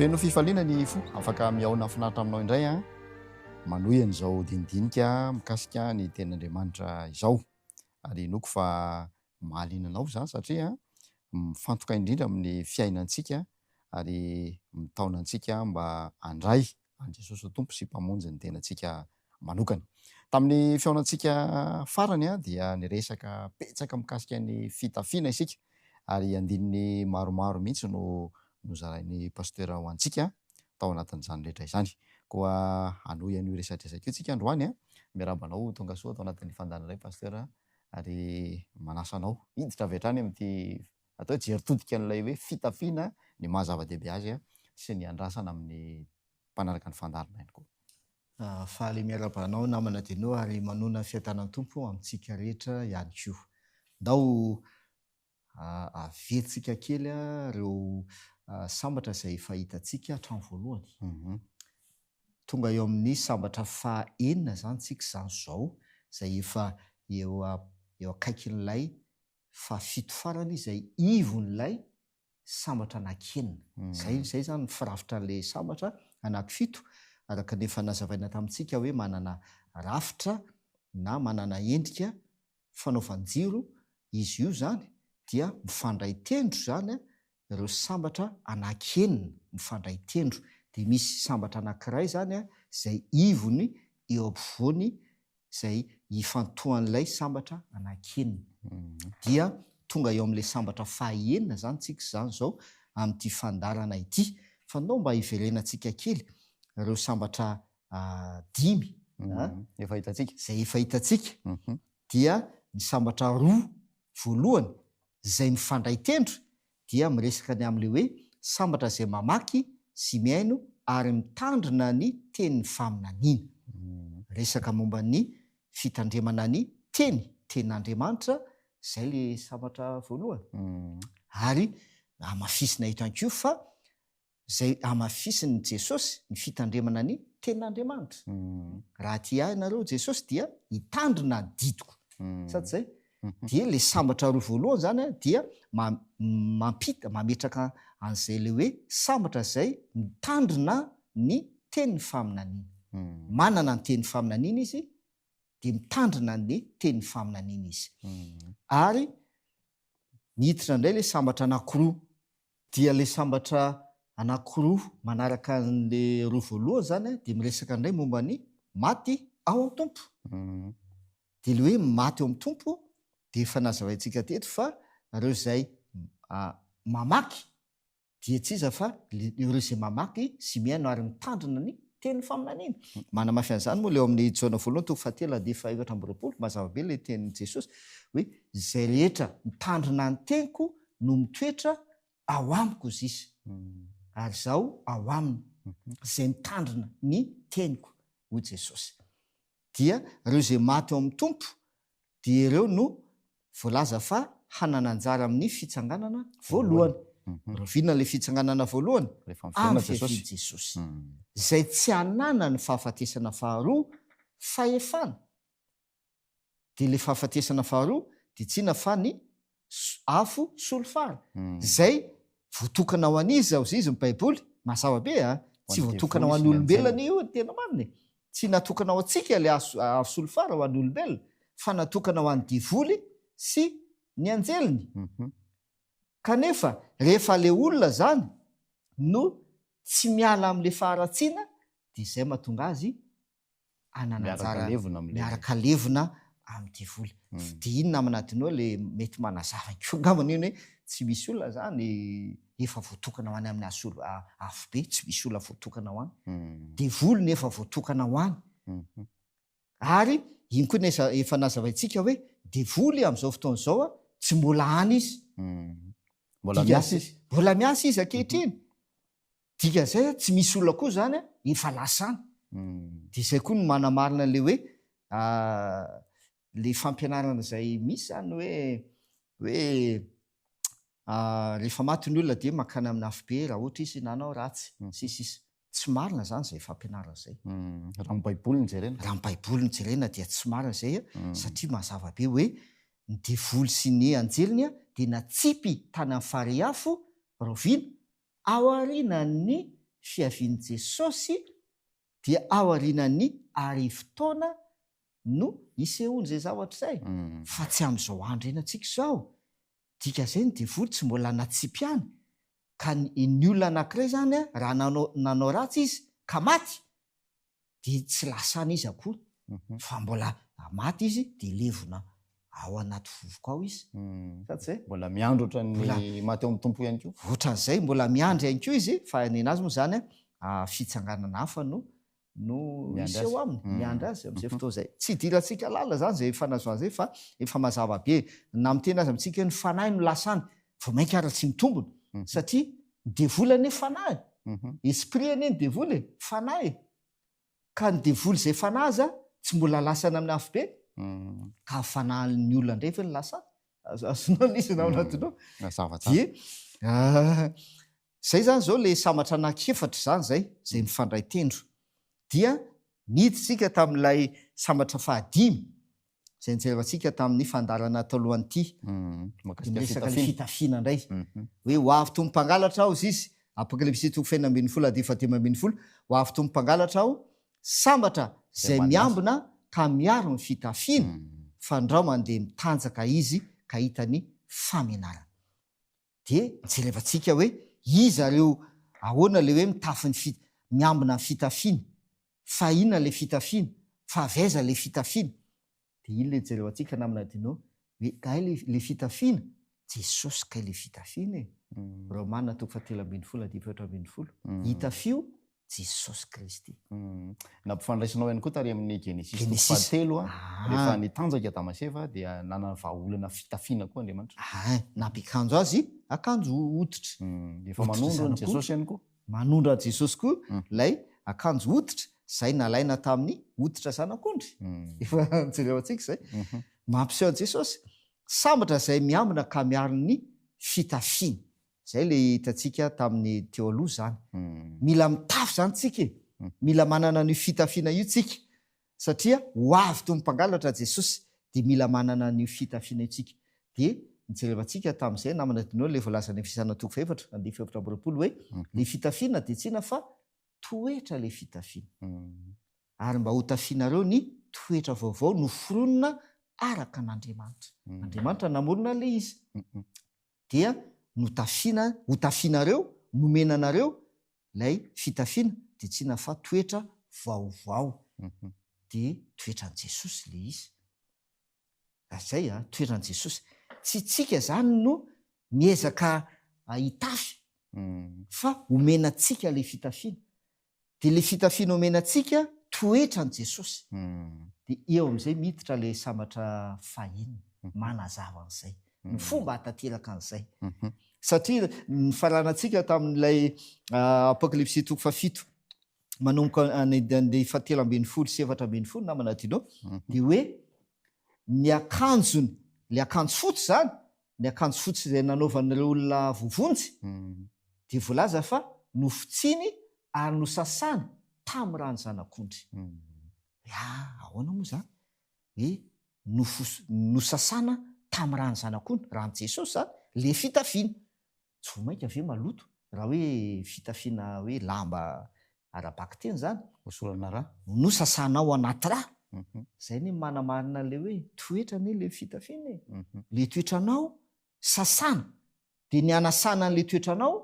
Feno fifaliana ny fo, afaka mihaona finaritra aminao indray an. Manohy an'izao dinidinika mikasika ny tenin'Andriamanitra izao. Ary inoako fa mahaliana anao izany satria mifantoka indrindra amin'ny fiainantsika ary mitaona antsika mba handray an'i Jesosy ho Tompo sy Mpamonjy ny tenantsika manokana. Tamin'ny fihaonantsika farany dia niresaka betsaka mikasika ny fitafiana isika ary andininy maromaro mihitsy no nozarain'ny Pasitera ho antsika tao anatin'izany rehetra izany. Koa hanohy an'io resadresaka io tsika androany. Miarahaba anao ho tonga soa tao anatin'ny fandaharanay Pasitera. ary manasa anao hiditra avy hatrany amin'ity atao hoe jery todika an'ilay hoe fitafiana ny maha zava-dehibe azy sy ny andrasana amin'ny mpanaraka ny fandaharana ihany koa. Faly miarahaba anao namana Deno ary manoana fiadanan'ny Tompo amintsika rehetra ihany koa. Ndao aviantsika kely ireo sambatra izay efa hitantsika hatramin'ny voalohany. Mhm. Tonga eo amin'ny sambatra fahenina izany tsika izany izao, izay efa eo eo akaikin'ilay fahafito farany izay ivon'ilay sambatra anankienina. Mhm. Zay izay izany ny firafitra an'ilay sambatra anankifito, araka ny efa nazavaina tamintsika hoe manana rafitra na manana endrika fanaovan-jiro izy io izany dia mifandray tendro izany ireo sambatra anaky enina mifandray tendro dia misy sambatra anankiray izany izay ivony eo ampovoany izay ifantohan'ilay sambatra anaky enina dia tonga eo amin'ilay sambatra faha enina izany tsika izany izao amin'ity fandaharana ity fa ndao mba hiverenantsika kely ireo sambatra dimy efa hitantsika, izay efa hitantsika dia ny sambatra roa voalohany izay mifandray tendro dia miresaka ny amin'ilay hoe sambatra izay mamaky sy mihaino ary mitandrina ny tenin'ny faminaniana. Resaka momba ny fitandremana ny teny, tenin'Andriamanitra, izay ilay sambatra voalohany. Ary hamafisina eto ihany koa fa izay hamafisin'i Jesosy ny fitandremana ny Tenin'Andriamanitra. Raha tia ahy ianareo, Jesosy, dia hitandrina ny didiko. Sa tsy izay? Dia ilay sambatra roa voalohany izany dia mampita, mametraka an'izay ilay hoe sambatra izay mitandrina ny tenin'ny faminaniana. Manana ny tenin'ny faminaniana izy, dia mitandrina ny tenin'ny faminaniana izy. Ary miditra indray ilay sambatra anankiroa Dia ilay sambatra anankiroa manaraka an'ilay roa voalohany izany dia miresaka indray momba ny maty ao amin'ny Tompo. Dia ilay hoe maty ao amin'ny Tompo dia efa nazavaintsika teto fa ireo izay mamaky dia tsy iza fa ireo izay mamaky sy mihaino ary mitandrina ny tenin'ny faminaniana. Manamafy an'izany moa ilay ao amin'ny Jaona voalohany toko fahatelo andinin'ny fahaefatra amby roapolo, mazava be ilay tenin'i Jesosy hoe izay rehetra mitandrina ny teniko no mitoetra ao amiko zisa, ary izaho ao aminy, izay mitandrina ny teniko, hoy Jesosy. Dia ireo izay maty ao amin'ny Tompo, dia ireo no voalaza fa hanana anjara amin'ny fitsanganana voalohany. Rahoviana ilay fitsanganana voalohany? Amin'ny fiavian'i Jesosy. Izay tsy hanana ny fahafatesana faharoa, fahefana. Dia ilay fahafatesana faharoa dia tsy inona fa ny afo solifara. Izay voatokana ho an'iza hozy izy ny Baiboly? Mazava be a! Tsy voatokana ho an'olombelona ny io ny tena marina e! Tsy natokana ho antsika ilay afo solifara ho an'olombelona fa natokana ho an'ny devoly sy ny anjeliny. Kanefa rehefa ilay olona izany no tsy miala amin'ilay faharatsiana dia izay mahatonga azy hanana anjara miaraka levona amin'ny devoly. Dia inona amin'adinao ilay mety manazava koa angamba ny hoe tsy misy olona izany efa voatokana ho any amin'ny asolo afobe, tsy misy olona voatokana ho any. Devoly no efa voatokana ho any. Ary iny koa ilay efa nazavaintsika hoe devoly amin'izao fotoana izao tsy mbola any izy. Mbola miasa izy. Mbola miasa izy ankehitriny. Dikan'izay tsy misy olona koa izany efa lasa any. Dia izay koa no manamarina an'ilay hoe ilay fampianarana izay misy izany hoe hoe rehefa maty ny olona dia mankany amin'ny afobe raha ohatra izy nanao ratsy sy sisa. Tsy marina izany izay fampianarana izay. Hmm. Raha ny Baiboly no jerena. Raha ny Baiboly no jerena dia tsy marina izay hmm. satria mazava be hoe ny devoly sy ny anjeliny dia natsipy tany amin'ny fariafo raoviana Aorianan'ny fiavian'i Jesosy dia aorianan'ny arivo taona no hisehoan'izay zavatra izay fa tsy amin'izao andro iainantsika izao. Dika izay ny devoly tsy mbola natsipy ihany ka ny olona anankiray izany raha nanao ratsy izy ka maty dia tsy lasa any izy akory fa mbola maty izy dia levona ao anaty vovoka ao izy. Sa tsy zay? Mbola miandry ohatran'ny maty ao amin'ny Tompo ihany koa. Ohatran'izay, mbola miandry ihany koa izy fa ny anazy moa izany fitsanganana hafa no no misy eo aminy, miandry azy amin'izay fotoana izay. Tsy idirantsika lalina izany izay fanazoana izay fa efa mazava be na miteny aza amintsika hoe ny fanahy no lasa any vao mainka ary tsy mitombina satria Ny devoly anie fanahy e. Esprit anie ny devoly e, fanahy e. Ka ny devoly izay fanahy aza tsy mbola lasana amin'ny afobe, ka amin'ny fanahin'ny olona indray ve no lasany? Azonao ny izy na ao anatinao. Dia izay izany izao ilay sambatra anankiefatra izany izay, izay mifandray tendro. Dia niditra isika tamin'ilay sambatra fahadimy, izay nijeratsika tamin'ny fandaharana talohan'ity, dia miresaka ny fitafiana indray, hoe ho avy toy ny mpangalatra aho, ziz. Apokalypsy toko fahenina ambin'ny folo adiry fahadimy ambin'ny folo, Ho avy toy ny mpangalatra aho, sambatra izay miambina ka miaro ny fitafiany, fandrao mandeha mitanjaka izy ka hita ny famenarana. Dia jerevantsika hoe iza ireo ahoana ilay hoe mitafy ny fi, miambina ny fitafiana, fa inona ilay fitafiana, fa avy aiza ilay fitafiana. Dia iny ilay jerevantsika namana Dino hoe kay ilay fitafiana, Jesosy kay ilay fitafiana e! Romana toko fahatelo ambin'ny folo andininy fahefatra ambin'ny folo. Itafio Jesosy Kristy. Nampifandraisinao ihany koa tary amin'ny Genesisy toko Genesisy. fahatelo, a, Ah. rehefa nitanjaka i Adama sy Eva dia nanana vahaolana fitafiana koa Andriamanitra. Ah, nampiakanjo azy akanjo hoditra. Mm, Efa Hoditra manondro an'i zanak'ondry. Jesosy ihany koa. Manondro an'i Jesosy koa Mm. ilay akanjo hoditra izay nalaina tamin'ny hoditra zanak'ondry. Mm, Efa jereo antsika izay. mhm. Mampiseho an'i Jesosy sambatra izay miambina ka miaro ny fitafiany. Izay ilay hitantsika tamin'ny teo aloha izany. Mila mitafy izany tsika e. Mila manana an'io fitafiana io tsika. Satria ho avy toy ny mpangalatra Jesosy, dia mila manana an'io fitafiana io tsika. Dia nijerevantsika tamin'izay namana Dino ilay voalazan'ny Efesiana toko fahefatra andininy fahefatra amby roapolo hoe, ilay fitafiana dia tsy inona fa toetra ilay fitafiana. Ary mba hotafianareo ny toetra vaovao noforonina araka an'Andriamanitra. Andriamanitra namorona ilay izy. dia notafiana, hotafianareo, nomena anareo ilay fitafiana, dia tsy inona fa toetra vaovao. Dia toetran'i Jesosy ilay izy. Ary zay an, toetran'i Jesosy. Tsy isika izany no miezaka hitafy, fa omena antsika ilay fitafiana. Dia ilay fitafiana omena antsika toetra an'i Jesosy. Dia eo amin'izay miditra ilay sambatra fahiny, manazava an'izay, ny fomba hahatanteraka an'izay. Satria nifaranantsika tamin'ilay Apokalypsy toko fahafito manomboka any andeha fahatelo ambin'ny folo sy efatra ambin'ny folo namana Dino, dia hoe ny akanjony, ilay akanjo fotsy izany, ny akanjo fotsy izay nanaovan'ireo olona voavonjy dia voalaza fa nofotsiny ary nosasany tamin'ny rano zanak'ondry. Hoe ahoana moa izany hoe nofo, nosasana tamin'ny rano zanak'ondry, ran'i Jesosy izany, ilay fitafiana. Tsy vao mainka ve maloto raha hoe fitafiana hoe lamba ara-bakiteny izany? Hosorana rà. No sasana ao anaty rà. Izay anie manamarina ilay hoe toetra anie ilay fitafiana e. Ilay toetranao sasana. Dia ny hanasana an'ilay toetranao,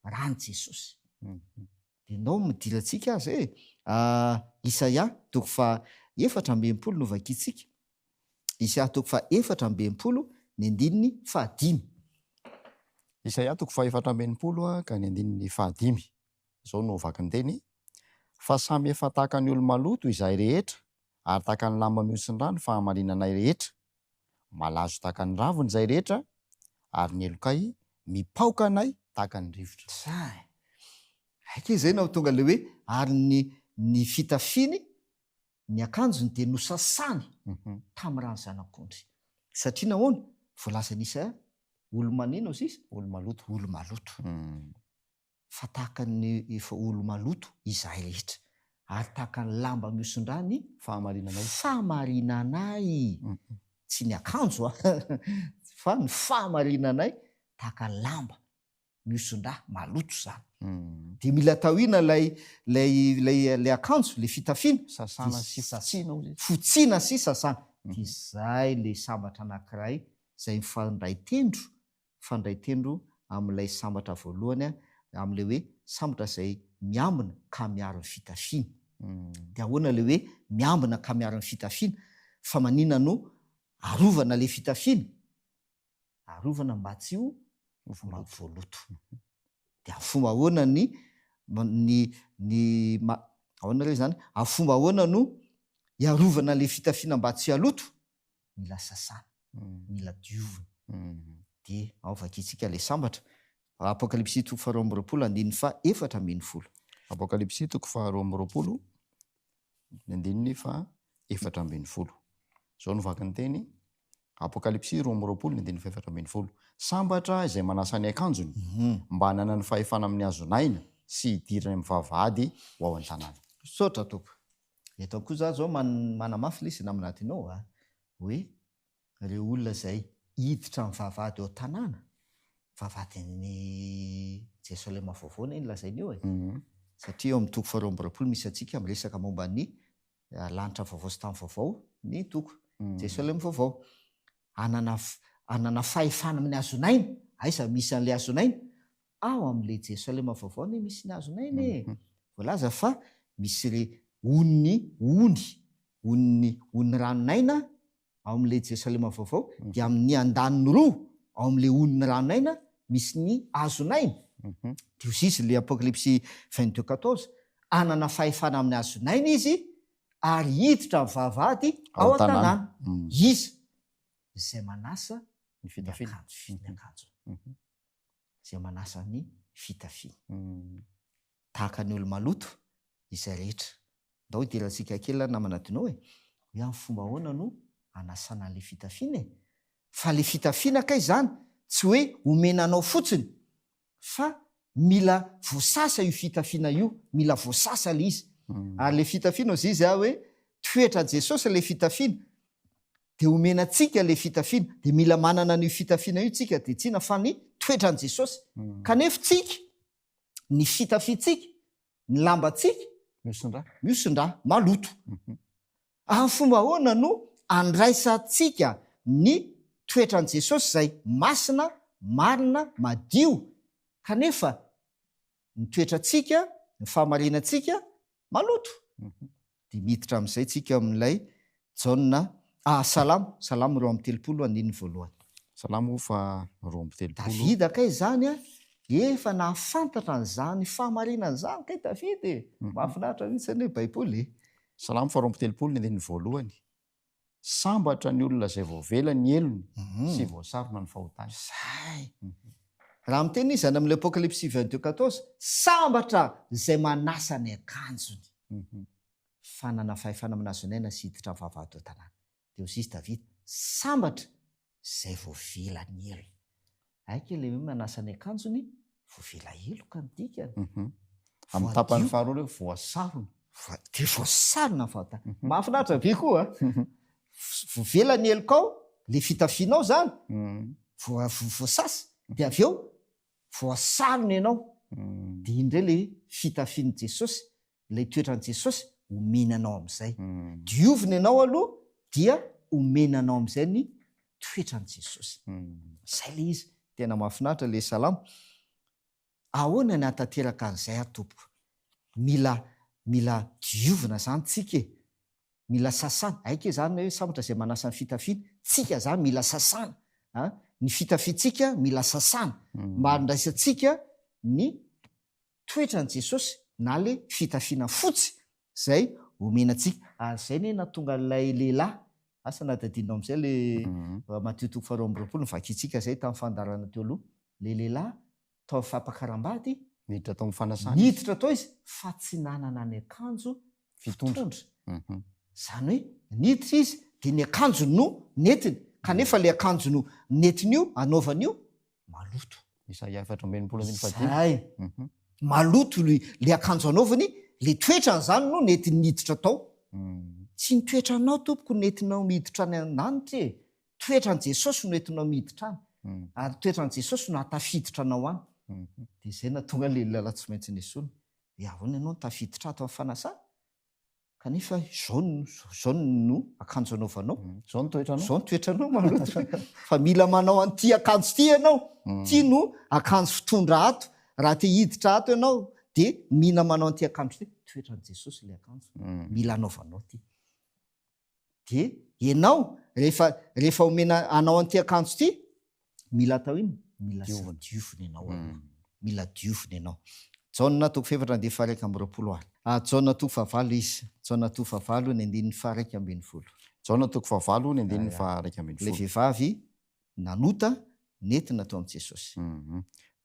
ràn'i Jesosy. Ianao midila antsika aza e! Ah, Isaia toko faha efatra amby enimpolo no vakintsika. Isaia toko faha efatra amby enimpolo, ny andininy fahadimy. Isaia toko faha efatra amby enimpolo ka ny andininy fahadimy. Izao no vakin-teny, Fa samy efa tahaka ny olo-maloto izahay rehetra, ary tahaka ny lamba mihosin'ny rà ny fahamarinanay rehetra. Malazo tahaka ny raviny izay rehetra, ary ny helokay mipaoka anay tahaka ny rivotra. Sahy. Hay kay izay nahotonga ilay hoe ary ny ny fitafiany, ny akanjony dia nosasany tamin'ny ràn'ny zanak'ondry. Satria nahoana? Voalazan'i Isaia, Olo-manina oziz? Olo-maloto. Olo-maloto. fa tahaka ny efa olo-maloto izahay rehetra, ary tahaka ny lamba mihosin-drà ny fahamarinanay, tsy ny akanjo an, fa ny fahamarinanay, tahaka ny lamba mihosin-drà, maloto izany, dia mila tahiana ilay, ilay, ilay, ilay akanjo, ilay fitafiana, sasana sy fotsiana, fotsiana sy sasana, dia izay ilay sambatra anankiray izay mifanindray tendro mifandray tendro amin'ilay sambatra voalohany amin'ilay hoe sambatra izay miambina ka miaro ny fitafiana. Dia ahoana ilay hoe miambina ka miaro ny fitafiana? Fa maninona no arovana ilay fitafiana? Arovana mba tsy ho voaloto. Dia amin'ny fomba ahoana ny ny ny ahoana re izany? Amin'ny fomba ahoana no hiarovana ilay fitafiana mba tsy haloto? mila sasana, mila diovina. Dia ao vakintsika ilay sambatra. Apokalypsy toko faharoa amby roapolo andininy faha efatra ambin'ny folo. Apokalypsy toko faharoa amby roapolo ny andininy faha efatra ambin'ny folo. Izao no vaky ny teny. Apokalypsy roa amby roapolo ny andininy faha efatra ambin'ny folo. Sambatra izay manasa ny akanjony mhm. mba hananany fahefana amin'ny hazon'aina sy hidirany amin'ny vavahady ho ao an-tanàna. Misaotra Tompo. Eto koa za zao man manamafy ilay izy namana adinao a! hoe ireo olona izay hiditra amin'ny vavahady ao an-tanàna, vavahadin'i Jerosalema vaovao anie no lazaina eo e! satria eo amin'ny toko faharoa amby roapolo misy antsika miresaka momba ny lanitra vaovao sy tany vaovao ny toko, Jerosalema vaovao. Hanana f- hanana fahefana amin'ny hazon'aina, aiza misy an'ilay hazon'aina? Ao amin'ilay Jerosalema vaovao anie misy ny hazon'aina e! Voalaza fa misy re ony, ony, ony, ony ranon'aina ao amin'ilay Jerosalema vaovao, dia amin'ny andaniny roa ao amin'ilay ony ranon'aina misy ny hazon'aina. Dio sy izy ilay Apokalypsy vingt deux quatorze, hanana fahefana amin'ny hazon'aina izy ary hiditra amin'ny vavahady ao an-tanàna. Iza izay manasa ny akanjony? izay manasa ny fitafiany. Tahaka ny olo-maloto izay rehetra. Ndao idirantsika kely ary namana Dino e, hoe amin'ny fomba ahoana no anasana an'ilay fitafiana e? Fa ilay fitafiana kay izany tsy hoe omena anao fotsiny fa mila voasasa io fitafiana io, mila voasasa ilay izy. Ary ilay fitafiana hozizy aho hoe toetran'i Jesosy ilay fitafiana, dia omena antsika ilay fitafiana, dia mila manana an'io fitafiana io tsika, dia tsina fa ny toetran'i Jesosy. Hmm. Kanefa tsika, ny fitafintsika, ny lambantsika, miosondra, miosondra, maloto. Hmm. Amin'ny fomba ahoana no andraisantsika ny toetran'i Jesosy izay masina, marina, madio, kanefa ny toetrantsika, ny fahamarinantsika maloto. Dia miditra amin'izay tsika amin'ilay Jaona ah, Salamo, Salamo roa amby telopolo, andininy voalohany. Salamo fa roa amby telopolo. Davida kay izany an, efa nahafantatra an'izany fahamarinana izany kay Davida e! Mahafinaritra mihitsy anie Baiboly e! Salamo fa roa amby telopolo, ny andininy voalohany. Sambatra ny olona izay voavela ny helony mhm. sy voasarona ny fahotany. Zay. Mhm. Raha miteny izy any amin'ilay Apokalypsy 22:14, sambatra izay manasa ny akanjony. Mhm. Fanana fahefana manazonaina sy hiditra vavahady tanàna. Dia hoy izy Davida, sambatra izay voavila ny elo. Hay kay ilay hoe manasa ny akanjony, voavila heloka ny dikany. Amin'ny tapany faharoa ilay hoe voasarona. Dia voasarona ny fahotana. Mahafinaritra be koa an! Voavila ny helokao, ilay fitafianao izany, voasasa, dia avy eo voasarona ianao. Dia iny indray ilay hoe fitafian'i Jesosy, ilay toetran'i Jesosy, omena anao amin'izay. Diovina ianao aloha dia omena anao amin'izay ny toetran'i Jesosy. Izay ilay izy. Tena mahafinaritra ilay salamo. Ahoana ny hahatanteraka an'izay aho Tompoko? Mila mila diovina izany tsika e. Mila sasana. Hay ke izany hoe sambatra izay manasa ny fitafiany. Tsika izany mila sasana a! Ny fitafiantsika mila sasana mba handraisantsika ny toetran'i Jesosy na ilay fitafiana fotsy izay omena antsika. Ary izay anie nahatonga an'ilay lehilahy, asa na dia adinonao amin'izay ilay Matio toko faharoa amby roapolo no vakintsika izay tamin'ny fandaharana teo aloha, ilay lehilahy tao amin'ny fampakaram-bady, niditra tao amin'ny fanasana izy, niditra tao izy fa tsy nanana ny akanjo fitondra, izany hoe niditra izy dia ny akanjony no nentiny, kanefa ilay akanjo no nentiny io hanaovany io maloto. Isaia efatra amby enimpolo andininy fahadimy. Zay. Mhm. Maloto le, le akanjo anaovany, le toetrany zany no nety niditra tao. Mhm. Tsy ny toetranao tompoko no nentinao miditra any an-danitra e. Toetran'i Jesosy no entinao miditra any. Mhm. Ary toetran'i Jesosy no hahatafiditra anao any. Mhm. Dia izay nahatonga an'ilay olona lahy tsy maintsy nesoina. Dia ahoana ianao no tafiditra ato amin'ny fanasana? kanefa izao izao no akanjo anaovanao mm. izao ny toetranao izao ny toetranao maloto fa mila manao an'ity akanjo ity ianao mm. ty no akanjo fitondra ato raha te hiditra ato ianao dia mila manao an'ity akanjo ity toetran'i jesosy ilay akanjo mm. mila anaovanao ty dia ianao rehefa rehefa omena anao an'ity akanjo ity mila atao inona mila Diovina. diovina ianao aloha Mm. mila diovina ianao jaona toko fahefatra andininy faharaika amby roapolo ary ah, jaona toko fahavalo izy jaona toko fahavalo ny andininy faharaika ambin'ny folo Jaona toko fahavalo ny andininy Aya. faharaika ambin'ny ilay folo vehivavy nanota nentina teo amin'i Jesosy.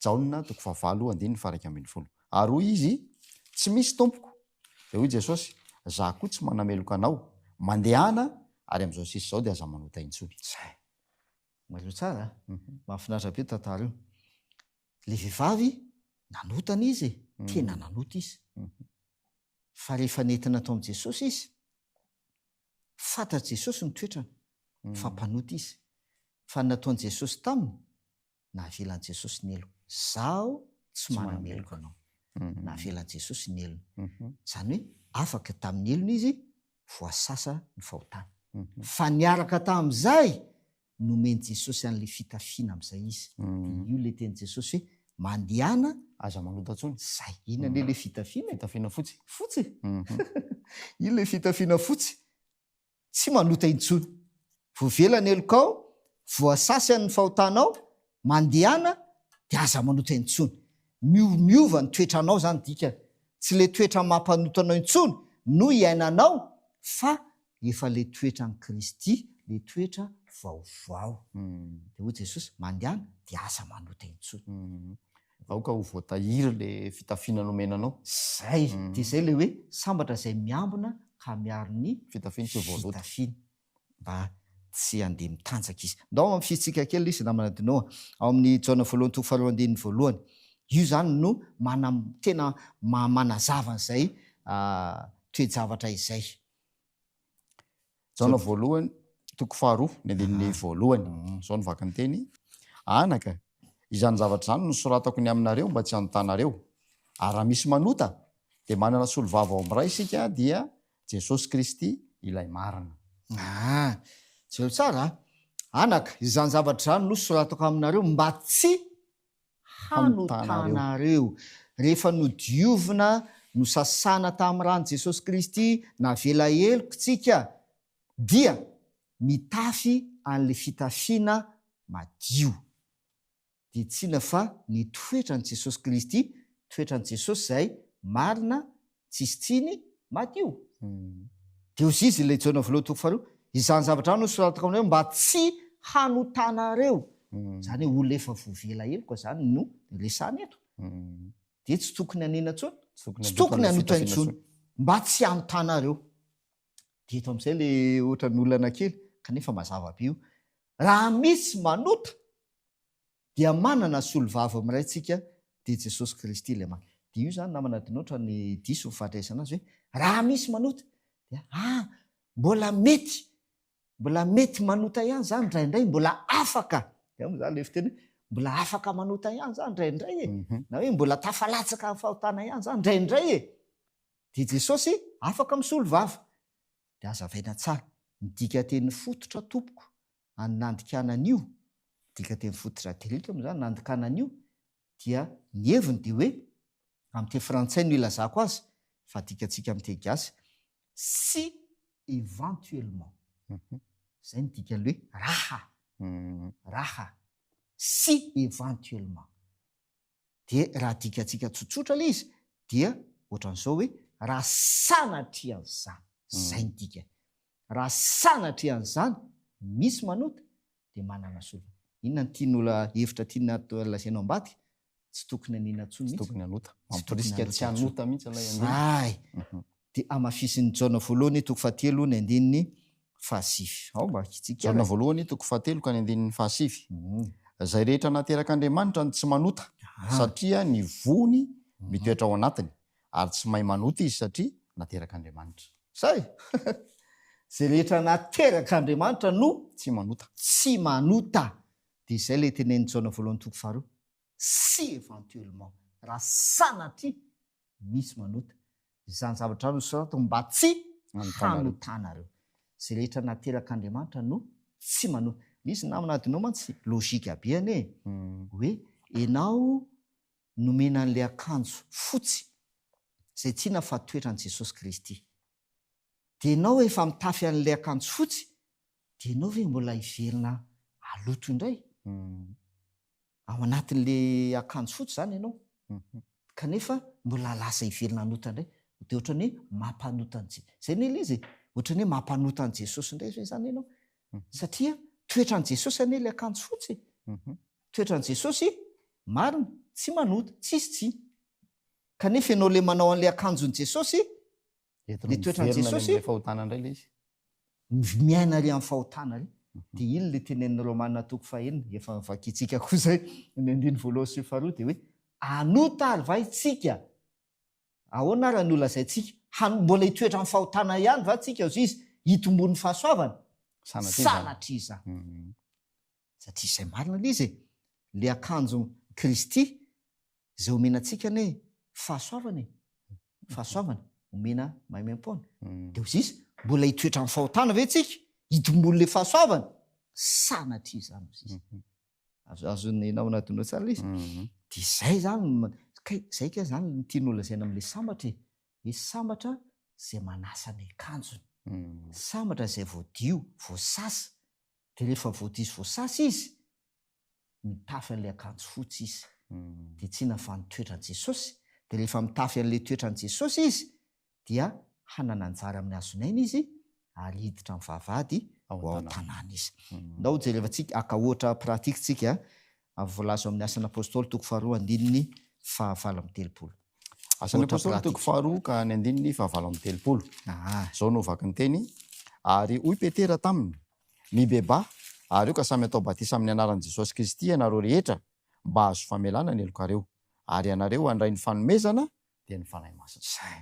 Jaona toko fahavalo andininy faha-iraika ambin'ny folo. Ary hoy izy, Tsy misy, Tompoko. Dia hoy Jesosy, Izaho koa tsy manameloka anao. Mandehana, ary amin'izao sisa izao dia aza manota intsony. Izay. Mailo tsara a! Mahafinaritra be io tantara io. Ilay vehivavy nanotana izy e, tena nanota izy. Fa rehefa nentina tao amin'i Jesosy izy, Fantatr'i Jesosy ny toetrany, fa mpanota izy. Fa ny nataon'i Jesosy taminy, navelan'i Jesosy ny helony. Izaho tsy manameloka anao. Navelan'i Jesosy ny helony. Izany hoe afaka tamin'ny helony izy, voasasa ny fahotany. Fa niaraka tamin'izay, nomen'i Jesosy an'ilay fitafiana amin'izay izy. Dia io ilay tenin'i Jesosy hoe, Mandehana, Aza manota intsony. Izay. Inona anie ilay fitafiana e? Fitafiana fotsy. Fotsy e. Inona ilay fitafiana fotsy? Tsy manota intsony. Voavela ny helokao, voasasy an'ny fahotanao, mandehana, dia aza manota intsony. Mio- Miova ny toetranao izany dikany. Tsy ilay toetra maha-mpanota anao intsony no iainanao fa efa le toetra an'i Kristy, le toetra vaovao. Dia hoy Jesosy, mandehana, dia aza manota intsony. Aoka ho voatahiry le fitafiana nomena anao. Zay, dia zay le hoe, sambatra izay miambina ka miaro ny Fitafiny tsy ho voaloto. fitafiny, mba tsy handeha mitanjaka izy. Ndao hampisintsika kely izy namana Dino a, ao amin'ny Jaona voalohany toko faharoa andininy voalohany. Io izany no manam, tena manazava an'izay toe-javatra izay. Jaona voalohany, toko faharoa, ny andininy voalohany. Mm. Izao ny vakany teny. Anaka, izany zavatra izany no soratako ny aminareo mba tsy hanotanareo. Ary raha misy manota, dia manana solovava ao amin'ny Ray isika, dia Jesosy Kristy ilay marina. Ah, jereo tsara. Anaka, izany zavatra izany no soratako aminareo mba tsy hanotanareo. Rehefa nodiovina, nosasana tamin'ny ran'i Jesosy Kristy, navela heloka isika, dia mitafy an'ilay fitafiana madio. Dia tsinona fa ny toetran'i Jesosy Kristy, toetran'i Jesosy izay marina, tsisy tsiny, madio. Deo zizy ilay Jaona voalohany toko faharoa, izany zavatra izany nosoratako aminareo mba tsy hanotanareo. Izany hoe olona efa voavela heloka izany no resahana eto. Dia tsy tokony hanena intsony, tsy tokony hanota intsony, mba tsy hanotanareo. Dia eto amin'izay ilay ohatran'ny olana kely, kanefa mazava be io. Raha misy manota, dia manana solovava miray tsika dia Jesosy Kristy ilay maty. Dia io zany namana adinoatra ny diso ny fahadraisana azy hoe raha misy manota dia ah mbola mety mbola mety manota ihany zany indraindray mbola afaka dia moa zany ilay fiteny hoe mbola afaka manota ihany zany indraindray e mhm. na hoe mbola tafalatsaka amin'ny fahotana ihany zany indraindray e dia Jesosy afaka misolovava dia azavaina tsara ny dikateny fototra tompoko an'ny nandikana an'io, dikateny fototra delitrum izany, nandikana an'io, dia ny heviny dia hoe, amin'ny teny frantsay no ilazako azy, fa adikantsika amin'ny teny gasy, si éventuellement, izay no dikan'ilay hoe raha, raha, si éventuellement. dia raha adikatsika tsotsotra ilay izy dia ohatran'izao hoe raha sanatria an'izany, izay ny dikany, raha sanatria an'izany misy manota dia manana solofa. Inona no tian'ola hevitra tiana lazaina ao ambadika? Tsy tokony anina intsony mihitsy. Tsy tokony hanota. Mamporisika tsy hanota mihitsy ilay andiany. Zay. dia hamafisin'i Jaona voalohany toko fahatelo ny andininy fahasivy. Ao mba hakitsiky ahy. Jaona voalohany toko fahatelo ka ny andininy fahasivy. Izay rehetra naterak'Andriamanitra no tsy manota, satria ny vohony mitoetra ao anatiny, ary tsy mahay manota izy satria naterak'Andriamanitra. Izay! Izay rehetra naterak'Andriamanitra no tsy manota. Tsy manota. Dia izay ilay tenenin'i Jaona voalohany toko faharoa, si éventuellement, raha sanatria misy manota izany zavatra izany nosoratako mba tsy hanotanareo. Izay rehetra naterak'Andriamanitra no tsy manota. Misy namana adinao mantsy logique habeany e, hmm. hoe enao nomena an'ilay akanjo fotsy izay tiana fa toetra an'i Jesosy Kristy. Dia enao efa mitafy an'ilay akanjo fotsy, dia enao ve mbola hiverina aloto indray? Hmm. ao anatin'le akanjo fotsy zany ianao kanefa mbola lasa hivelona hanota indray dia ohatran'ny hoe mampanota an'i Jesosy. Izay ny ilay izy e. Ohatran'ny hoe mampanota an'i Jesosy indray ve izany ianao? Satria toetran'i Jesosy anie ilay akanjo fotsy e. Toetran'i Jesosy marina, tsy manota, tsisy tsy. Kanefa ianao ilay manao an'ilay akanjon'i Jesosy Entina Le toetran'i miverina any Jesosy? amin'ilay fahotana indray ilay izy. Ny miaina ary amin'ny fahotana ary. Dia iny ilay tenenin'i Romana toko fahenina, efa vakintsika koa izay, ny andininy voalohany sy ny faharoa, dia hoe, Anota ary va isika? Ahoana ary no lazaintsika? Han- mbola hitoetra amin'ny fahotana ihany va isika, hozy izy, hitomboan'ny fahasoavana? Sanatria izany. Sanatria izany. Mhm. satria izay marina ilay izy e! ilay akanjon'i Kristy izay omena antsika anie fahasoavana e! fahasoavana omena maimaim-poana. Dia ho zisa, mbola hitoetra amin'ny fahotana ve tsika? Hitomboan'ilay fahasoavana? Sanatria izany ho zisa. Mhm. Azo azon'ny namana adino tsara ilay izy. Mhm. Dia izay izany, kay izay kay izany ny tianao lazaina amin'ilay sambatra e! hoe sambatra izay manasa ny akanjony, mhm. sambatra izay voadio, voasasa, dia rehefa voadiso voasasa izy, mitafy an'ilay akanjo fotsy izy. Dia tsy navaha ny toetran'i Jesosy. Dia rehefa mitafy an'ilay toetran'i Jesosy izy, dia hanana anjara amin'ny hazon'aina izy, ary hiditra amin'ny vavahady ao an-tanàna izy. Ndao jerevantsika, haka ohatra pratique tsika, ary voalaza ao amin'ny Asan'ny Apôstôly toko faharoa andininy fahavalo amby telopolo. Asan'ny Ohatra Apôstôly toko pratika. faharoa ka ny andininy fahavalo amby telopolo. Aa. Izao no vaky ny teny, Ary hoy Petera taminy, Mibebaha, ary eo ka samy atao batisa amin'ny anaran'i Jesosy Kristy ianareo rehetra, mba hahazo famelana ny helokareo, ary ianareo handray ny fanomezana, dia ny Fanahy Masina. Izay.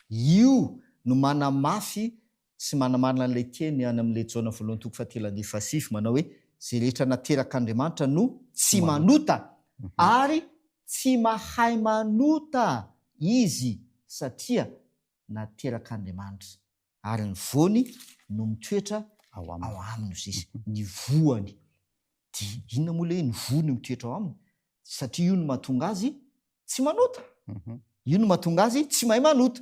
Io no manamafy sy manamarina an'ilay teny any amin'ilay Jaona voalohany toko fahatelo andininy fahasivy manao hoe, Izay rehetra naterak'Andriamanitra no tsy manota, ary tsy mahay manota izy satria naterak'Andriamanitra, ary ny voany no mitoetra ao aminy, hoy izy. Ny voany. Dia inona moa ilay hoe ny voany mitoetra ao aminy? Satria io no mahatonga azy tsy manota. Io no mahatonga azy tsy mahay manota.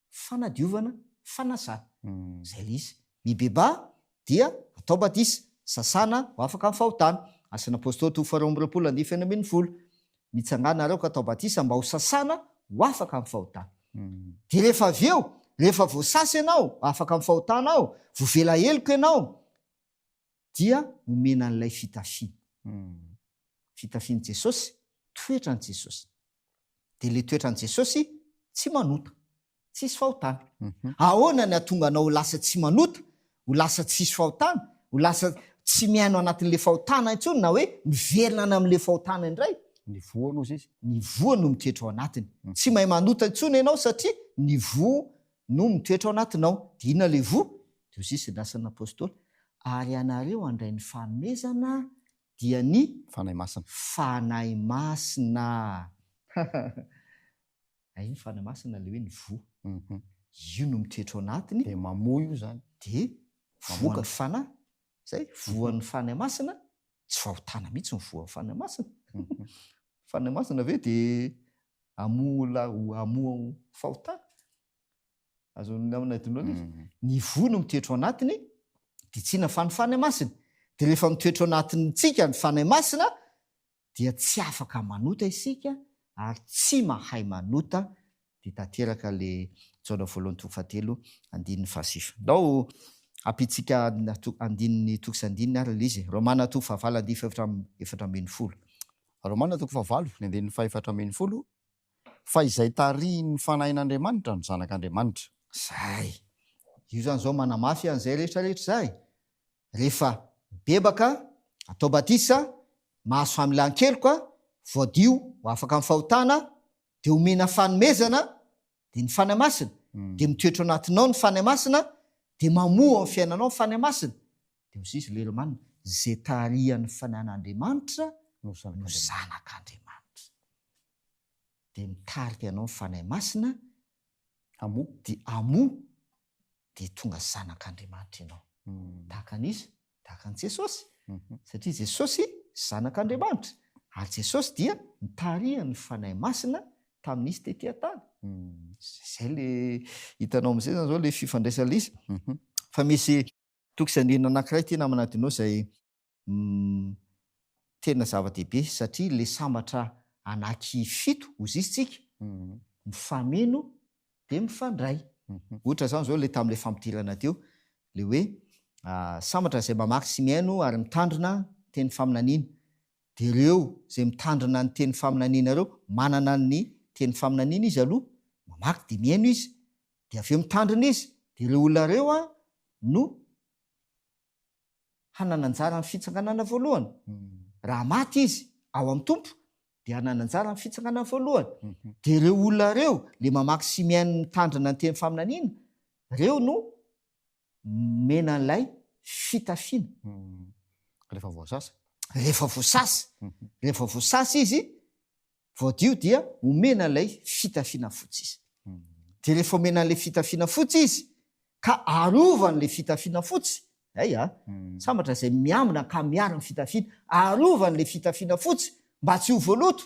fanadiovana, fanasana. Izay ilay izy. Mibebaha dia atao badisa, sasana ho afaka amin'ny fahotana. Asan' Apôstôly to faharoa amby roapolo andininy feno ambin'ny folo. Mitsangàna nareo ka atao badisa mba ho sasana ho afaka amin'ny fahotana. Dia rehefa avy eo, rehefa voasasa ianao, afaka amin'ny fahotana ao, voavela heloka ianao, dia omena an'ilay fitafiana. Fitafian'i Jesosy, toetran'i Jesosy. Dia ilay toetran'i Jesosy, tsy manota, tsisy fahotana. Ahoana ny hahatonga anao ho lasa tsy manota, ho lasa tsisy fahotana, ho lasa tsy miaina ao anatin'ilay fahotana intsony na hoe miverina any amin'ilay fahotana indray? Ny voa no izy. Ny voa no mitoetra ao anatiny. Tsy mahay manota intsony ianao satria ny voa no mitoetra ao anatinao, dia inona ilay voa? Dia hoy Jesosy, ny Asan'ny Apostoly, Ary ianareo handray ny fanomezana, dia ny Fanahy Masina. Fanahy Masina. Hay ny Fanahy Masina ilay hoe ny voa. Io no mitoetra ao anatiny. Dia mamoa io izany. Dia voan'ny Fanahy. Izay, voan'ny Fanahy Masina, tsy fahotana mihitsy ny voan'ny Fanahy Masina. Fanahy Masina ve dia amour là ou amour fahotana azon'ny namana adinao anie izy ny voa no mitoetra ao anatiny dia tsy inona fa ny fanahy masina dia rehefa mitoetra ao anatintsika ny fanahy masina dia tsy afaka manota isika ary tsy mahay manota dia tanteraka le jaona voalohany toko fahatelo andininy fahasivy ndao ampitsika andininy toko sy andininy ary le izy romana toko fahavalo andininy fahefatra efatra ambin'ny folo Romana toko fahavalo ny andininy fahefatra ambin'ny folo, Fa izay tarihin'ny fanahin'Andriamanitra no zanak'Andriamanitra. Izay. Io izany izao manamafy an'izay rehetra rehetra izay. Rehefa mibebaka, atao batisa, mahazo familan-keloka, voadio ho afaka amin'ny fahotana, dia omena fanomezana, dia ny Fanahy Masina, dia mitoetra ao anatinao ny Fanahy Masina, dia mamoa amin'ny fiainanao ny Fanahy Masina, dia hoy Jesosy, ilay Romanina, izay tarihan'ny Fanahin'Andriamanitra no zanak'Andriamanitra. Dia mitarika anao ny Fanahy Masina, hamoa, dia hamoa, dia tonga zanak'Andriamanitra ianao. Tahaka an'iza? Tahaka an'i Jesosy. Satria Jesosy zanak'Andriamanitra, ary Jesosy dia nitarihan'ny Fanahy Masina tamin'izy tety an-tany. Izay le hitanao amin'izay izany izao le fifandraisan'ilay izy. Fa misy tokisandrina anankiray tena manadino izay Umm tena zava-dehibe satria le sambatra anaky fito ozistsika mifameno de mifandray. Ohatra zany zao le tamle fampidirana teo le hoe sambatra zay mamaky sy mihaino ary mitandrina teny faminaniana de reo zay mitandrina ny teny faminaniana reo manana ny teny faminaniana izy aloha mamaky de mihaino izy de aveo mitandrina izy de reo olona reo a no hanana anjara amin'ny fitsanganana voalohany. Raha maty izy ao amin'ny Tompo, dia hanana anjara amin'ny fitsanganana voalohany. Mhm. Dia ireo olona ireo, le mamaky sy mihaino mitandrina ny teny faminaniana, ireo no mena an'ilay fitafiana. Mhm. Rehefa voasasa. Rehefa voasasa. Mhm. Rehefa voasasa izy, voadio dia omena ilay fitafiana fotsy izy. Dia rehefa omena ilay fitafiana fotsy izy, ka arovany le fitafiana fotsy, hay a! sambatra izay miambina ka miaro ny fitafiany, arovany le fitafiana fotsy mba tsy ho voaloto,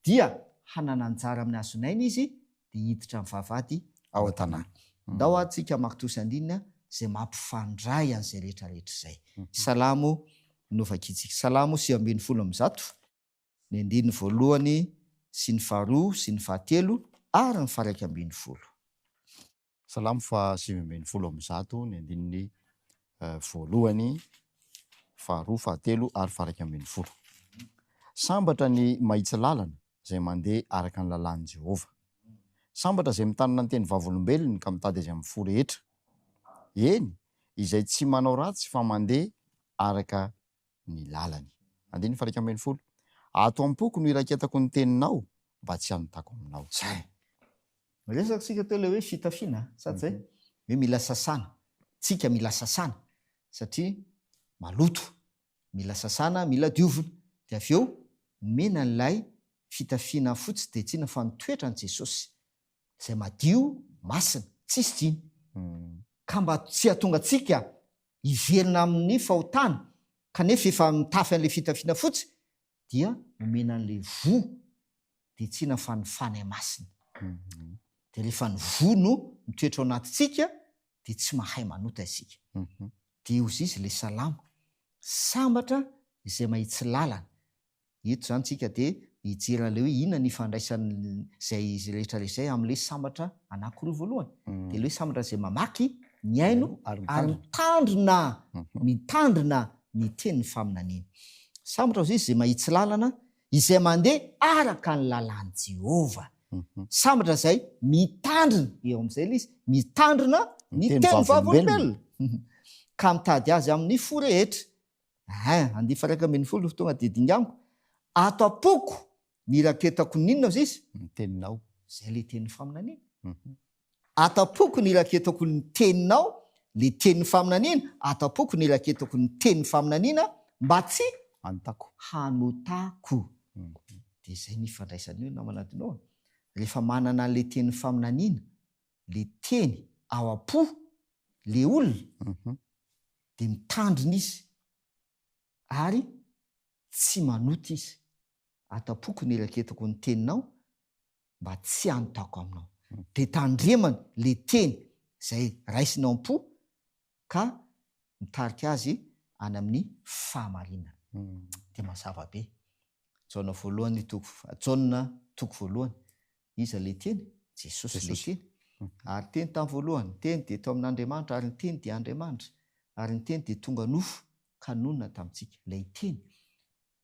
dia hanana anjara amin'ny hazon'aina izy dia hiditra amin'ny vavahady ao an-tanàna. Ndao ary tsika hamaky toa sy andininy izay mampifandray an'izay rehetra rehetra izay. Salamo novakitsika. Salamo sivy ambin'ny folo amby zato, ny andininy voalohany sy ny faharoa sy ny fahatelo ary ny faharaika ambin'ny folo. Salamo faha sivy ambin'ny folo amby zato, ny andininy voalohany, faharoa, fahatelo ary faha iraika ambin'ny folo. Sambatra ny mahitsy lalana izay mandeha araka ny lalàn'i Jehovah. Sambatra izay mitanana ny teny vavolombelony ka mitady azy amin'ny fo rehetra, eny, izay tsy manao ratsy fa mandeha araka ny lalany. Andininy faha iraika ambin'ny folo, Ato am-poko no iraketako ny teninao mba tsy hanotako aminao. Izay. Niresaka isika teo ilay hoe fitafiana, sa tsy izay? Hoe mila sasana. Tsika mila sasana satria maloto. Mila sasana, mila diovina. Dia avy eo omena an'ilay fitafiana fotsy dia tsy inona fa ny toetran'i Jesosy, izay madio, masina, tsisy diny. Ka mba tsy hahatonga antsika hiverina amin'ny fahotany kanefa efa mitafy an'ilay fitafiana fotsy dia omena an'ilay voa dia tsina fa ny fany masina dia rehefa ny voa no mitoetra ao anatintsika dia tsy mahay manota isika dia ozizy ilay salamo sambatra izay mahitsy lalana Eto izany tsika dia mijery an'ilay hoe inona ny ifandraisan'izay izy rehetra izay amin'ilay sambatra anankiroa voalohany. Dia ilay hoe sambatra izay mamaky, mihaino ary mitandrina, mitandrina ny tenin'ny faminaniana. Sambatra hozy izay mahitsy lalana, izay mandeha araka ny lalàn'i Jehovah. Sambatra izay mitandrina, eo amin'izay ilay izy, mitandrina ny tenin'ny Vavolombelona ka mitady azy amin'ny fo rehetra. Ehe, andifa iraika ambin'ny folo ny fotoana dia dinganiko. Ato am-poko ny iraketako ny inona hozy izy? Ny teninao. Izay ilay tenin'ny faminaniana. Ato am-poko ny iraketako ny teninao, ilay tenin'ny faminaniana. Ato am-poko ny iraketako ny tenin'ny faminaniana mba tsy. Hanotako. Hanotako. Dia izay no ifandraisany eo namana Dino a. Rehefa manana an'ilay tenin'ny faminaniana ilay teny ao am-po ilay olona dia mitandrina izy ary tsy manota izy, atam-poko ny eraketako ny teninao mba tsy hanotako aminao. Dia tandremany ilay teny izay raisiny ao am-po ka mitarika azy any amin'ny fahamarinana. Dia mazava be. Jaona voalohany toko, Jaona toko voalohany Iza ilay Teny? Jesosy ilay Teny. Ary ny Teny tamin'ny voalohany, ny Teny dia tao amin'Andriamanitra, ary ny Teny dia Andriamanitra, ary ny Teny dia tonga nofo ka nonina tamintsika. Ilay Teny.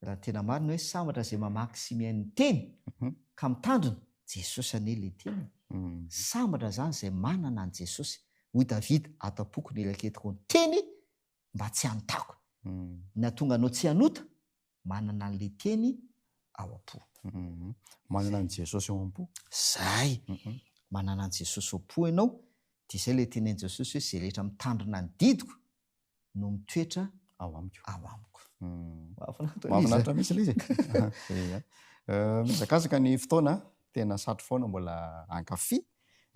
Raha ny tena marina hoe sambatra izay mamaky sy mihaino ny Teny ka mitandrina, Jesosy anie ilay Teny e! Sambatra izany izay manana an'i Jesosy. Hoy Davida, Ato am-poko ny raketiko ny Teny mba tsy hanontako. Ny hahatonga anao tsy hanota manana an'ilay Teny ao am-po. Manana an'i Jesosy ao am-po. Izay! Manana an'i Jesosy ao am-po ianao, dia izay ilay tenin'i Jesosy hoe, izay rehetra mitandrina ny didiko no mitoetra ao amiko. Ao amiko. Mahafinaritra. Mahafinaritra mihitsy ilay izy e. Mizakazaka ny fotoana, tena satry foana mbola hankafy.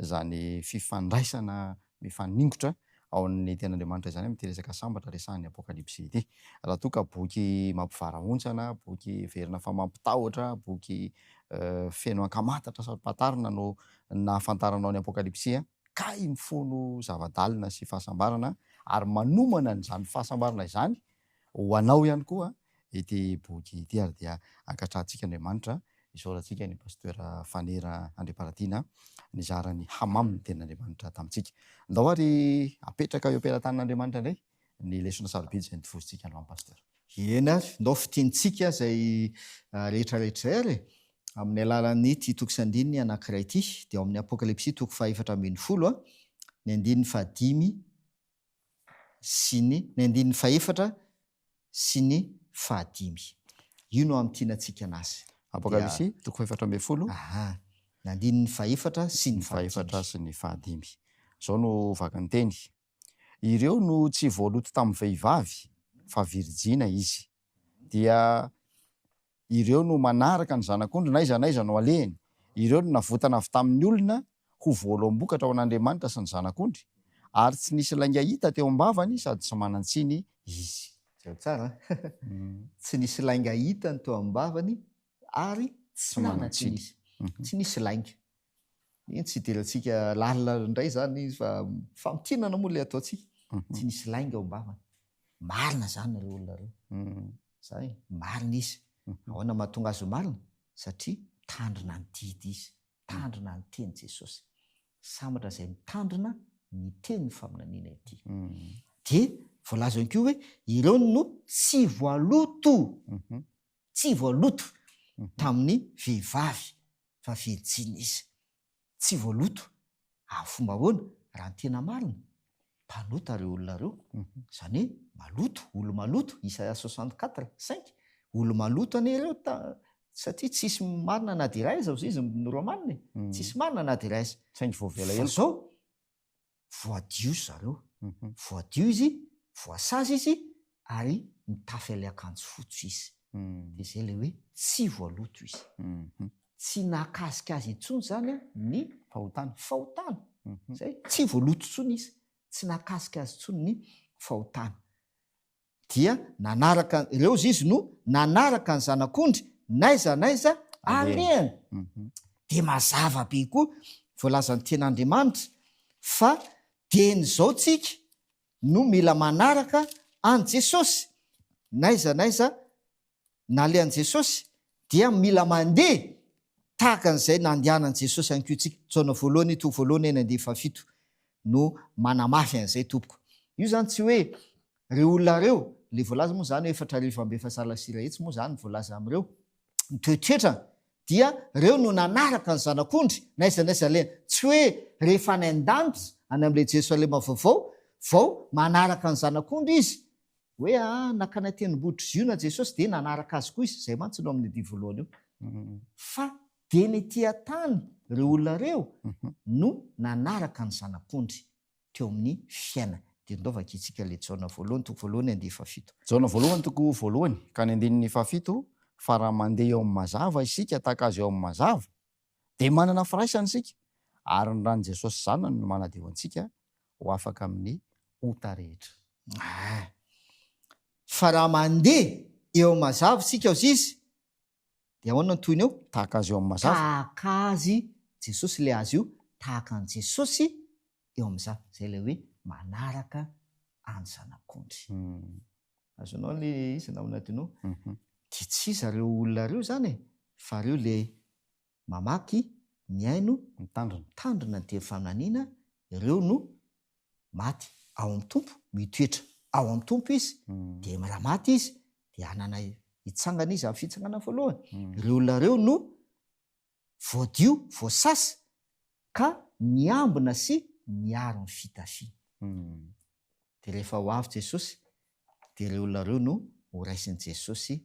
izany fifandraisana mifaningotra ao amin'ny Tenin'Andriamanitra izany amin'ity resaka sambatra resahin'ny Apokalypsy ity. Raha toa ka boky mampivarahontsana, boky heverina fa mampitahotra, boky feno ankamantatra saro-pantarina no nahafantaranao ny Apokalypsy, kay mifono zava-dalina sy fahasambarana ary manomana an'izany fahasambarana izany Ho anao ihany koa ity boky ity ary dia ankatrahantsika Andriamanitra isaorantsika ny Pasteur Fanera Andriamparatiana nizara ny hamamo ny tenin'Andriamanitra tamintsika. Andao ary apetraka eo am-pelatanan'Andriamanitra indray ny lesona sarobidy izay notovozontsika androany Pasteur. Eny ary, ndao fintinitsika izay rehetra rehetra izay ary e! amin'ny alalan'ity toko sy andininy anankiray ity, dia ao amin'ny Apokalypsy toko faha efatra ambin'ny folo, ny andininy fahadimy sy ny. Ny andininy fahefatra sy ny fahadimy. Io no hamintina antsika anazy. Apokalypsy, toko fahefatra ambin'ny folo. Aha. Ny andininy fahefatra sy ny fahadimy. Fahefatra sy ny fahadimy. Izao no vakan-teny, Ireo no tsy voaloto tamin'ny vehivavy, fa virijina izy. dia ireo no manaraka ny zanak'ondry n'aiza n'aiza no alehany. Ireo no navotana avy tamin'ny olona ho voaloam-bokatra ho an'Andriamanitra sy ny zanak'ondry, ary tsy nisy lainga hita teo am-bavany sady tsy manan-tsiny izy. Izao tsara an! Tsy nisy lainga hita ny teo am-bavany ary tsy nanan-tsiny izy. Tsy nisy lainga. Eny, tsy hidirantsika lalina indray izany izy fa famintinana moa ilay ataontsika. Tsy nisy lainga ao am-bavany. Marina izany ireo olona ireo. Izany hoe marina izy. Ahoana no mahatonga azy ho marina? Satria mitandrina ny didy izy, mitandrina ny tenin'i Jesosy. Sambatra izay mitandrina ny tenin'ny faminaniana ity. Dia voalaza ihany koa hoe ireo no tsy voaloto tsy voaloto tamin'ny vehivavy fa virjiny izy. Tsy voaloto amin'ny fomba ahoana? Raha ny tena marina, mpanota ireo olona ireo, izany hoe maloto, olo-maloto, Isaia soixante quatre cinq, olo-maloto anie ireo ta- satria tsisy marina na dia iray aza, hoy izy ny Romanina e, tsisy marina na dia iray aza. Saingy voavela Fa heloka. izao, voadio zareo, voadio izy, voasazy izy ary mitafy ilay akanjo fotsy izy, dia izay ilay hoe tsy voaloto izy. Tsy nahakasika azy intsony izany ny fahotana, fahotana, izay, tsy voaloto intsony izy, tsy nahakasika azy intsony ny fahotana. Dia nanaraka ireo izy, izy no nanaraka ny zanak'ondry n'aiza n'aiza alehany. Mhm. Dia mazava be koa voalazan'ny ten'Andriamanitra fa dieny izao tsika no mila manaraka an'i Jesosy n'aiza n'aiza nalehan'i Jesosy dia mila mandeha tahaka an'izay nandehanan'i Jesosy ihany koa isika. Jaona voalohany, toko voalohany, enina andininy fahafito no manamafy an'izay tompoko. Io izany tsy hoe ireo olona ireo, ilay voalaza moa izany hoe efatra arivo amby efazala sy iray hetsy moa izany voalaza amin'ireo toetoetra dia ireo no nanaraka ny zanak'ondry n'aiza n'aiza alehany. Tsy hoe rehefa any an-danitra, any amin'ilay Jerosalema vaovao, vao manaraka ny zanak'ondry izy Hoe aa naka anay tenimbotry ziona jesosy dia nanaraka azy koa izy, zay mantsy no amin'ny dia voalohany eo. Fa dia ny tia tany reo olona reo no nanaraka ny zanak'ondry teo amin'ny fiainany. Dia ndao vakintsika ilay Jaona voalohany toko voalohany andihy fahafito. Jaona voalohany toko voalohany ka ny andininy fahafito, fa raha mandeha eo amin'ny mazava isika tahaka azy eo amin'ny mazava, dia manana firaisana isika, ary ny ran'i Jesosy zanany no manadio antsika ho afaka amin'ny ota rehetra. Aah. Fa raha mandeha eo amin'ny mazava isika hozy izy dia ahoana ny tohiny eo? Tahaka azy eo amin'ny mazava. Tahaka azy Jesosy ilay azy io, tahaka an'i Jesosy eo amin'ny mazava. Izay ilay hoe manaraka an'i Zanak'ondry. Azonao ilay izy namana adinao? Dia tsy zareo olona ireo izany e, fa ireo ilay mamaky, mihaino, mitandrina. Mitandrina ny teny faminaniana, ireo no maty ao amin'ny Tompo, mitoetra ao amin'ny Tompo izy, dia raha maty izy dia hanana hitsangana izy amin'ny fitsangana voalohany. Ireo olona ireo no voadio, voasasa, ka miambina sy miaro ny fitafiany. Dia rehefa ho avy Jesosy dia ireo olona ireo no horaisin'i Jesosy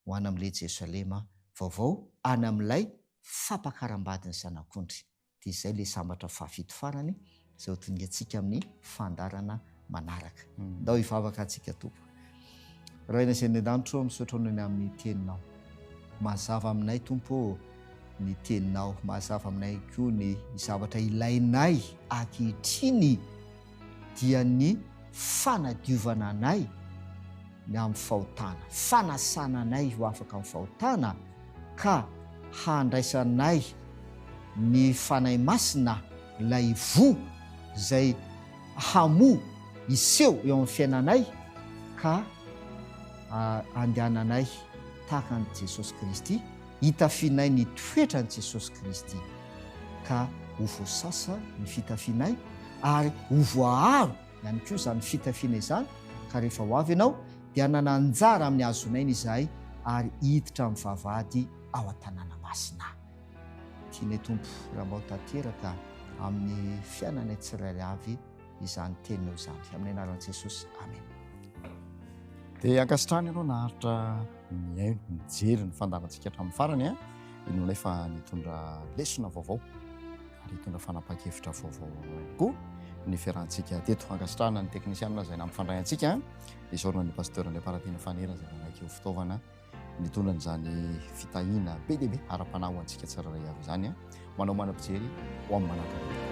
ho any amin'ilay Jerosalema vaovao, any amin'ilay fampakaram-badin'ny Zanak'ondry. Dia izay ilay sambatra fahafito farany izay hotoniantsika amin'ny fandaharana manaraka. Ndao hivavaka antsika Tompo. Raina izay any an-danitra ô, misaotra Anao ny amin'ny teninao. Mazava aminay Tompo ô ny teninao, mazava aminay koa ny zavatra ilainay ankehitriny. dia ny fanadiovana anay ny amin'ny fahotana, fanasana anay ho afaka amin'ny fahotana, ka handraisanay ny Fanahy Masina, ilay voa izay hamoa, hiseho eo amin'ny fiainanay, ka handehananay tahaka an'i Jesosy Kristy. hitafianay ny toetran'i Jesosy Kristy, ka ho voasasa ny fitafianay ary ho voaaro ihany koa izany fitafiana izany, ka rehefa ho avy Ianao, dia hanana anjara amin'ny hahazonaina izahay ary hiditra amin'ny vavahady ao an-tanàna masina. Tianay Tompo Rambao tanteraka amin'ny fiainanay tsirairay avy. izany teninao izany amin'ny anaran'i Jesosy amena dia ankasitrahana ianao naharitra mihaino mijery ny fandavantsika hatramin'ny farany a ino nefa nitondra lesona vaovao ary hitondra fanapahan-kevitra vaovao ihany koa ny fiarahantsika teto ankasitrahana ny teknisianina izay nampifandray antsika izaorana ny pasteur Andriamparatiana Fanera izay nanaiky ho fitaovana Nitondra an'izany fitahiana be dia be ara-panahy ho antsika tsirairay avy izany. Manao manam-pijery ho amin'ny manankarena.